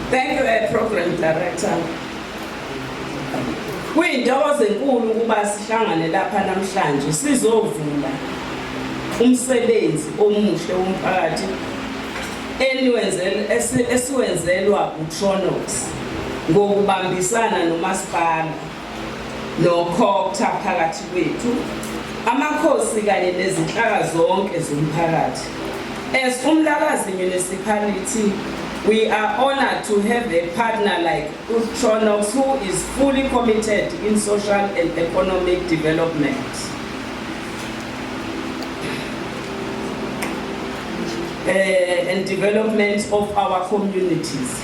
Thank you, eh, Program Director. Kuyintokozo enkulu ukuba sihlangane lapha namhlanje sizovula umsebenzi omuhle womphakathi esiwenzelwa uTronox ngokubambisana nomasipala nokhokta phakathi kwethu amakhosi kanye nezinhlaka zonke zomphakathi as umlakazi municipality we are honored to have a partner like utronox who is fully committed in social and economic development uh, and development of our communities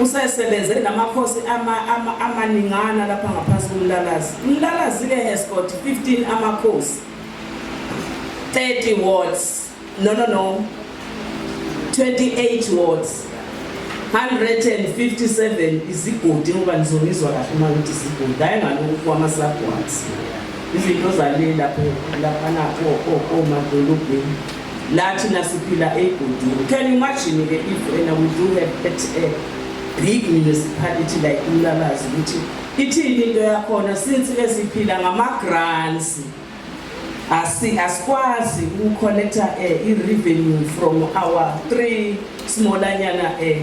usesebenze namakhosi amaningana ama, ama lapha ngaphansi kumlalazi umlalazi-ke has got 15 amakhosi 30 wards no no no 28 wards 157 izigodi ngoba nizonizwa kahle uma ngithi izigodi hayi ngalokhu kwama-subwards izinto zale lapho laphana komadolobheni La thina siphila ey'godini. Can you imagine ke if wena we do have at a big municipality like Umlabazi ukuthi ithini into yakhona since ke siphila ngama-grants asi asikwazi ukucollecta um eh, i-revenue from our three smallanyana um eh,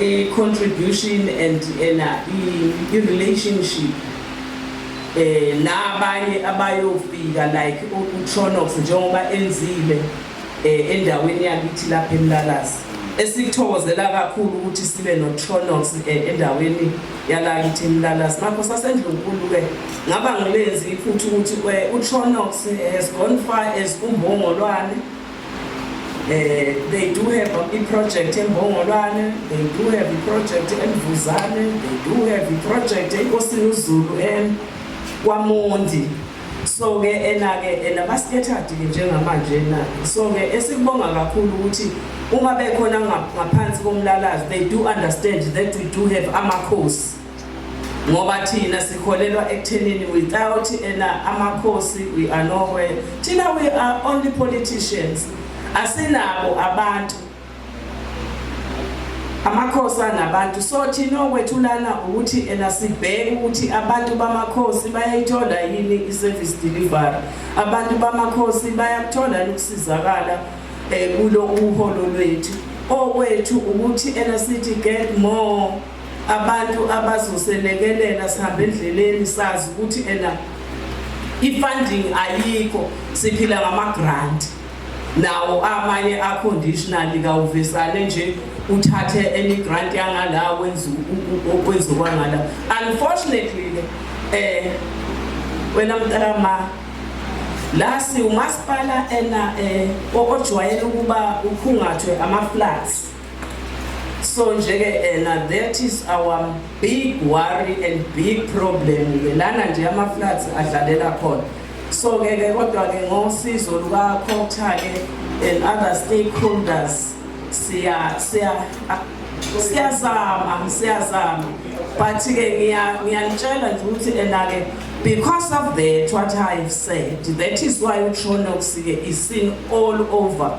i-contribution and ena i-relationship eh nabanye abayofika like uTronox njengoba enzile eh endaweni yakithi lapha eMlalazi esikuthokozela kakhulu ukuthi sibe noTronox eh, endaweni yalakithi eMlalazi mapho sasendlunkulu ke ngaba ngilenzi futhi ukuthi eh, uTronox has gone far as umbongolwane Eh, they do have a project in Bongolane, they do have a project in Vuzane, they do have a project in Osinuzulu and Kwamondi. So ke ena ke ena baskettered ke njengamanje na. So ke esikubonga kakhulu ukuthi uma bekhona ngaphansi komlalazi they do understand that we do have ama course. ngoba thina sikholelwa ekuthenini without ena amakhosi we are nowhere thina we are only politicians asinabo abantu amakhosi anabantu so thina okwethulana ukuthi ena sibheke ukuthi abantu bamakhosi bayayithola yini i-service delivery abantu bamakhosi bayakuthola ukusizakala um eh, kulo uholo lwethu okwethu ukuthi ena sithi get more abantu abazoselekelela sihambe endleleni sazi ukuthi ena i-funding ayikho siphila ngama-grant nawo amanye a-conditionally kawuvesane nje uthathe any grant yangala wenza okwenzokangala unfortunately ke eh wena mntakama la siwumasipala ena eh ojwayele ukuba ukhungathwe ama-flats so nje ke ena eh, that is our big worry and big problem ke lana nje ama floods adlalela khona so ke ke kodwa ke ngosizo luka Khotha ke and other stakeholders siya siya ah, siyazama siyazama but ke ngiya ngiyanitshela nje ukuthi ena ke because of that what i have said that is why utronox ke is seen all over